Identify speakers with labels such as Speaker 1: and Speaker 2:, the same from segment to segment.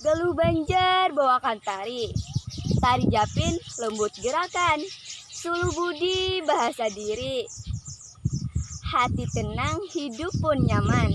Speaker 1: Galuh Banjar bawakan tari Tari Japin lembut gerakan Sulu budi bahasa diri Hati tenang hidup pun nyaman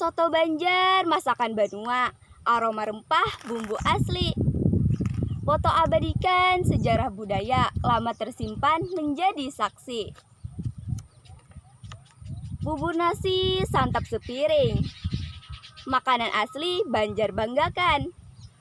Speaker 1: Soto Banjar, masakan Banua, aroma rempah, bumbu asli. Foto abadikan sejarah budaya lama tersimpan menjadi saksi. Bubur nasi santap sepiring. Makanan asli Banjar banggakan.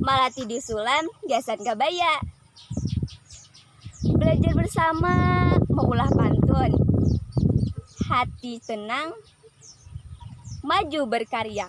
Speaker 1: Malati disulam gasan kabaya Belajar bersama Maulah pantun Hati tenang Maju berkarya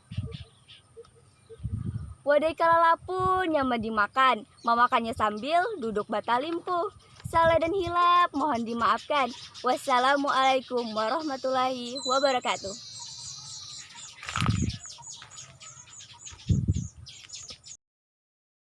Speaker 1: Wadai kalalapu nyaman dimakan, mamakannya sambil duduk batalimpuh. Salah dan hilap mohon dimaafkan. Wassalamualaikum warahmatullahi wabarakatuh.